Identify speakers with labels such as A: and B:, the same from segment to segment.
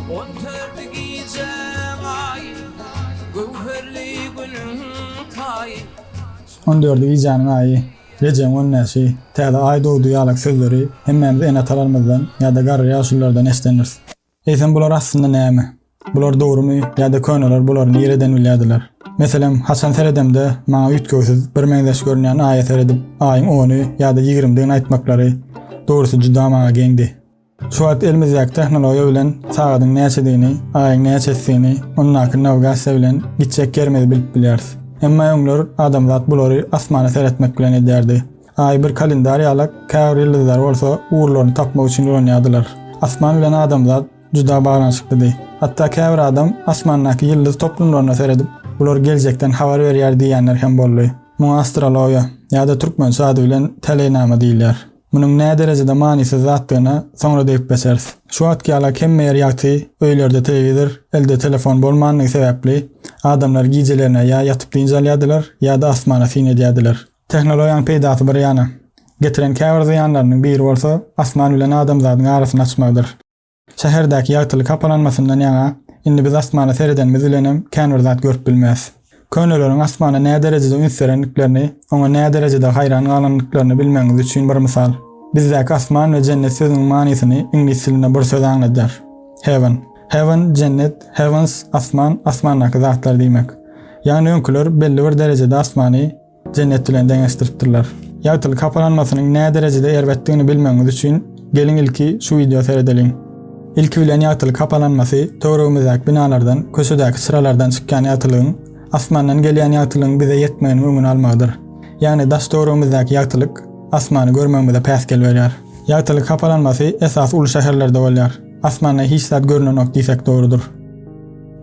A: On dört gijäň aýy, göwherli günüň
B: taýy. On dört gijäniň aýy, Rejäbiň on bäşi, Täze aý dogdy ýaly sözleri hemmämiz ene-atalarymyzdan ýa-da garry ýaşulylardan eşidendiris. Eýsem bular aslynda näme? Bular dogrumy ýa-da köneler bulary nireden bilýärdiler? Meselem, haçan seredemde maňa üýtgewsiz, birmeňzeş görünýän aýa seredip, aýyň ony ýa-da ýigrimdigini aýtmaklary, dogrusy juda maňa geňdi. Şu wagt elimizdäki tehnologiýa bilen sagadyň näçedigini, aýyň näçesidigini, ondaky nawigasiýa bilen gitjek ýerimizi bilip bilýäris. Emma öňler adamzat bulary asmana seretmek bilen edýärdi. Aýy bir kalendar ýalak, käbir ýyldyzlary bolsa ugurlaryny tapmak üçin ulanýardylar. Asman bilen adamzat juda baglanyşyklydy. Hatda käbir adam asmandaky ýyldyz toplumlaryna seredip, bular geljekden habar berýär diýýänler hem boldy. Muňa astrologiýa, ýa-da türkmençe ady bilen täleýnama diýilýär. Munuň näderejede manysyz zatdygyna soňra degip geçeris. Şu wagtky ýalak hemme ýer ýagty, öýlerde telewizor, elde telefon bolmandygy sebäpli, adamlar gijelerine ýa ýatyp dynç alýardylar, ýa-da asmana syn edýärdiler. Tehnologiýanyň peýdasy bir ýana, getiren käbir zyýanlarynyň biri bolsa asman bilen adamzadyň arasyny açmagydyr. Şäherdäki ýagtylyk hapalanmasyndan ýaňa, indi biz asmana seredenimiz bilenem kän bir zat görüp bilmeris. Köneleriň asmana näderejede üns berendiklerini, oňa näderejede haýran galandyklaryny bilmegiňiz üçin bir mysal. Bizdäki asman we jennet sözüniň manysyny iňlis dilinde bir söz aňladýar. Heaven. Heaven, jennet, heavens, asman, asmandaky zatlar diýmek. Ýagny öňküler belli bir derejede asmany, Jennet bilen deňeşdiripdirler. Ýagtylyk hapalanmasynyň nä derejede erbetdigini bilmegiňiz üçin geliň ilki şu wideo seredeliň. Ilki bilen ýagtylyk hapalanmasy töweregimizdäki binalardan, köçedäki çyralardan çykýan ýagtylygyň, asmandan gelýän ýagtylygyň bize ýetmeginiň öňüni almagydyr. Ýagny daş-töweregimizdäki ýagtylyk asmany görmegimize päsgel berýär. Ýagtylyk hapalanmasy esasy uly şäherlerde bolýar. Asmanda hiç zat görnenok diýsek dogrudyr.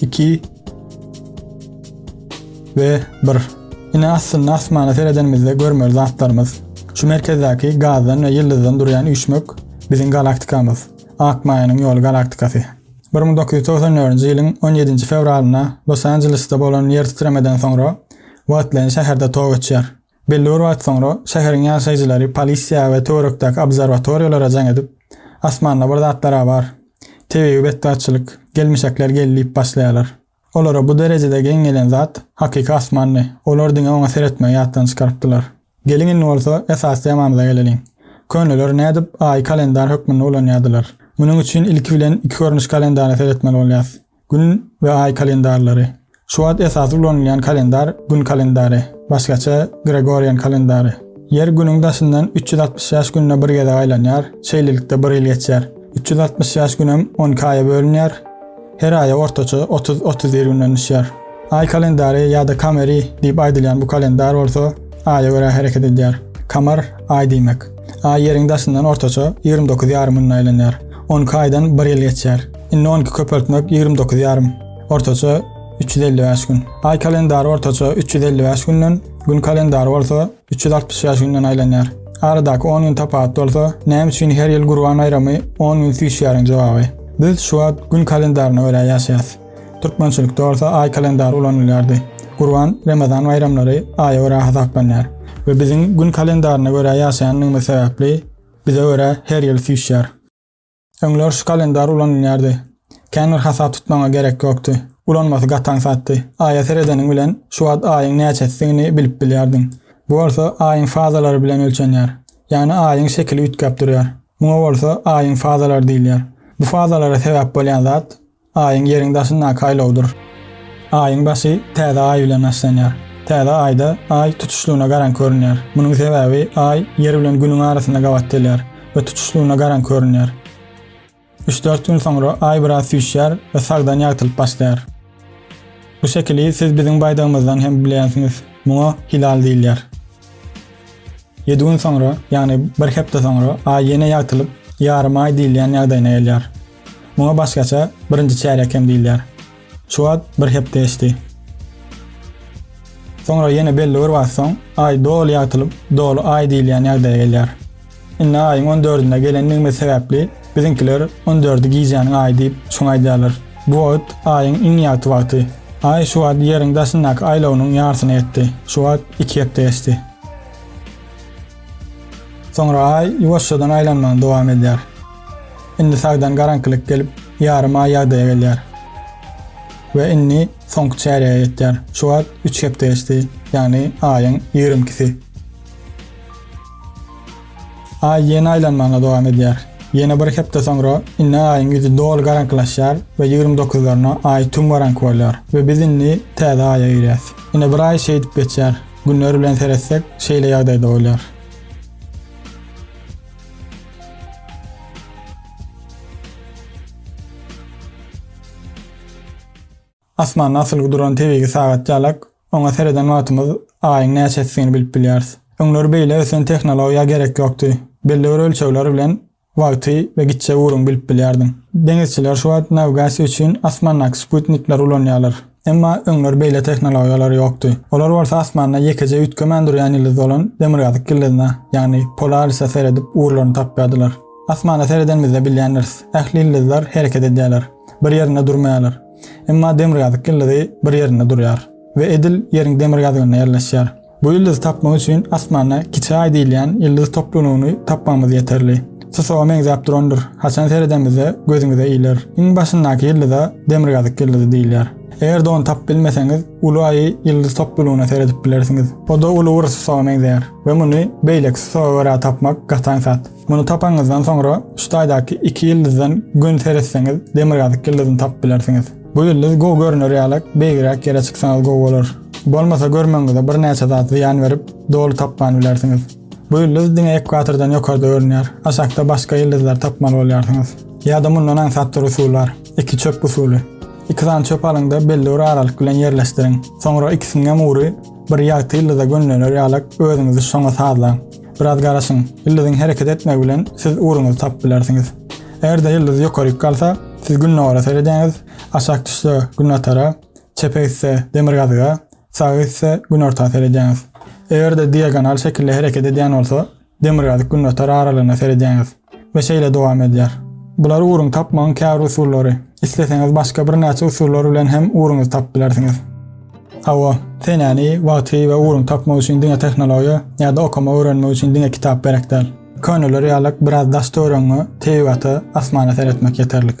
B: 2 we 1. Ine aslynda asmana seredenimizde görmeli zatlarymyz. Şu merkezdäki gazdan we ýyldyzdan durýan üýşmek biziň galaktikamyz. Akmaýanyň ýoly galaktikasy. 1994-nji ýylyň 17-nji fewralynda Los-Anjelesde bolan ýertitremeden soňra wagtlaýyn şäherde tow öçýär. Belli bir wagt soňra şäheriň ýaşaýjylary polisiýa we töwerekdäki obzerwatoriýalara jaň edip, Asmanda bir zatlar-a bar. Tebigy betbagtçylyk, gelmişekler geldi diýip başlaýarlar. Olara bu derejede geň gelen zat hakyky asmandy. Olar diňe oňa seretmegi ýatdan çykarypdylar. Geliň indi bolsa esasy temamyza geleliň. Köneler nädip Aýy kalendar hökmünde ulanýardylar? Munuň üçin ilki bilen iki görnüş kalendara seretmeli bolýarys. Gün we aý kalendarlary. Şu wagt esasy ulanylýan kalendar Gün kalendary, başgaça Gregorian kalendary. Ýer Günüň daşyndan üç ýüz altmyş ýaş günde bir gezek aýlanýar, şeýlelikde bir ýyl geçýär. Üç ýüz altmyş ýaş günem on iki aýa bölünýär, her aýa ortaça otuz, otuz bir günden düşýär. Aý kalendary ýa-da kameri diýip aýdylýan bu kalendar bolsa, aýa görä hereket edýär. Kamar, aý diýmek. Aý Ýeriň daşyndan ortaça ýigrimi dokuz ýarym günde aýlanýar. On iki aýdan bir ýyl geçýär. Indi on iki köpeltmek ýigrimi dokuz ýarym, ortaça üç ýüz elli bäş gün. Aý kalendary ortaça üç ýüz elli bäş günden, Gün kalendary bolsa üç ýüz altmyş bäş günden aýlanýar. Aradaky on gün tapaut bolsa, näme üçin her ýyl Gurban baýramy on gün süýşýäriň jogaby. Biz şu wagt Gün kalendaryna görä ýaşaýas. Türkmençilikde bolsa aý kalendary ulanylýardy. Gurban, Remezan baýramlary aýa görä hasaplanýar we biziň gün kalendaryna görä ýaşaýanlygymyz sebäpli bize görä her ýyl süýşýär. Öňler şu kalendar ulanylýardy. Kän bir hasap tutmaňa gerek ýokdy. Ulanmasy gaty aňsatdy. Aýa seredeniň bilen şu wagt aýyň näçesidigini bilip bilýärdiň. Bu bolsa aýyň fazalary bilen ölçenýär. Ýagny aýyň şekili üýtgäp durýar. Muňa bolsa aýyň fazalary diýilýär. Bu fazalara sebäp bolýan zat Aýyň Ýeriň daşyndaky aýlawdyr. Aýyň başy täze Aý bilen başlanýar. Täze Aýda Aý tutuşlygyna garaňky görünýär. Munuň sebäbi Aý Ýer bilen Günüň arasynda gabat gelýär we tutuşlygyna garaňky görünýär. Üç-dört gün soňra Aý biraz süýşýär we sagdan ýagtylyp başlaýar. Bu şekili siz biziň baýdagymyzdan hem bilýänsiňiz. Muňa hilal diýilýär. Ýedi gün soňra, ýagny bir hepde soňra Aý ýene ýagtylyp, ýarym Aý diýilýän ýagdaýyna gelýär. Muňa başgaça birinji çärýek hem diýilýär. Şu wagt bir hepde geçdi. Soňra ýene belli bir wagt soň Aý doly ýagtylyp, doly Aý diýilýän ýagdaýa gelýär. Indi Aýyň on dördünde gelendigimiz sebäpli biziňkiler on dördi gijäniň Aýy diýip şoňa aýdýarlar. Bu wagt Aýyň iň ýagty wagty. Aý şu wagt Ýeriň daşyndaky aýlawynyň ýarsyna ýetdi. Şu wagt iki hepde geçdi. Soňra Aý ýuwaşjadan aýlanmagyny dowam edýär. Indi sagdan garaňkylyk gelip, ýarym aý ýagdaýa gelýär. We indi soňky çärýege ýetýär. Şu wagt üç hepde geçdi, ýagny aýyň ýigrimi ikisi. Aý ýene aýlanmagyna dowam edýär. Ýene bir hepde soňra indi aýyň ýüzi doly garaňkylaşýar we ýigrimi dokuzlaryna aý tüm garaňky bolýar we biz indi täze aýa girýäs. Ine bir aý şeýdip geçýär. Günler bilen seretsek, şeýle ýagdaýda bolýar. Asmanda asylgy duran tebigy sagatjalak, oňa sereden wagtymyz Aýyň näçesidigini bilip bilýäris. Öňler beýle ösen tehnologiýa gerek ýokdy. Belli bir ölçegler bilen wagty we gitjek ugruny bilip bilýärdiň. Deňizçiler şu wagt nawigasiýa üçin asmandaky sputnikleri ulanýarlar. Emma öňler beýle tehnologiýalar ýokdy. Olar bolsa asmanda ýekeje üýtgemän durýan ýyldyz bolan Demirgazyk ýyldyzyna, ýagny Polarisa seredip ugurlaryny tapýardylar. Asmana seredenimizde bilýändiris, ähli ýyldyzlar hereket edýärler, bir ýerinde durmaýarlar. Emma Demirgazyk ýyldyzy bir ýerinde durýar we edil Ýeriň demirgazygynda ýerleşýär. Bu ýyldyzy tapmak üçin asmanda Kiçi Aý diýilýän ýyldyz toplumyny tapmagymyz ýeterli. Susaga meňzäp durandyr. Haçan seredemizde gözüňize iler. Iň başyndaky ýyldyza Demirgazyk ýyldyzy diýilýär. Eger-de ony tapyp bilmeseňiz, Uly Aýy ýyldyz toplumyna seredip bilersiňiz. O-da uly bir susaga meňzeýär we muny beýleki susaga görä tapmak gaty aňsat. Muny tapanňyzdan soňra şu taýdaky iki ýyldyzdan gün seretseňiz demirgazyk ýyldyzyny tapyp bilersiňiz. Bu ýyldyz gowy görüner ýalak beýigräk ýere çyksaňyz gowy bolar. Bolmasa görmegiňize bir näçe zat zyýan berip doly tapman bilersiňiz. Bu ýyldyz diňe ekwatordan ýokarda görünýär. Aşakda başga ýyldyzlary tapmaly bolýarsyňyz. Ýa-da mundan aňsatdyr usul bar. Iki çöp usuly. Iki sany çöp alyňda belli bir aralyk bilen ýerleşdiriň. Soňra ikisiniňem ugry bir ýagty ýyldyza gönlener ýalak özüňizi şoňa sazlaň. Biraz garaşyň, ýyldyzyň hereket etmegi bilen siz ugruňyzy tapyp bilersiňiz. Eger-de ýyldyz ýokaryk galsa, siz gündogara seredýäňiz, aşak düşse, günbatara, çepe gitse, demirgazyga, saga gitse, günorta seredýäňiz. Eger-de diagonal şekilde hereket edýän bolsa, demirgazyk-günbatar aralygyna seredýäňiz. We şeýle dowam edýär. Bular uruň tapmagyň käbir usullary. Isleseňiz başga birnäçe usullar bilen hem uruňyzy tapyp bilersiňiz. Hawa, senäni, wagty we uruň tapmak üçin diňe tehnologiýa ýa-da okama öwrenmek üçin diňe kitap gerek däl. Köneler ýalak biraz daş töweregiňe, tebigata, asmana seretmek ýeterlik.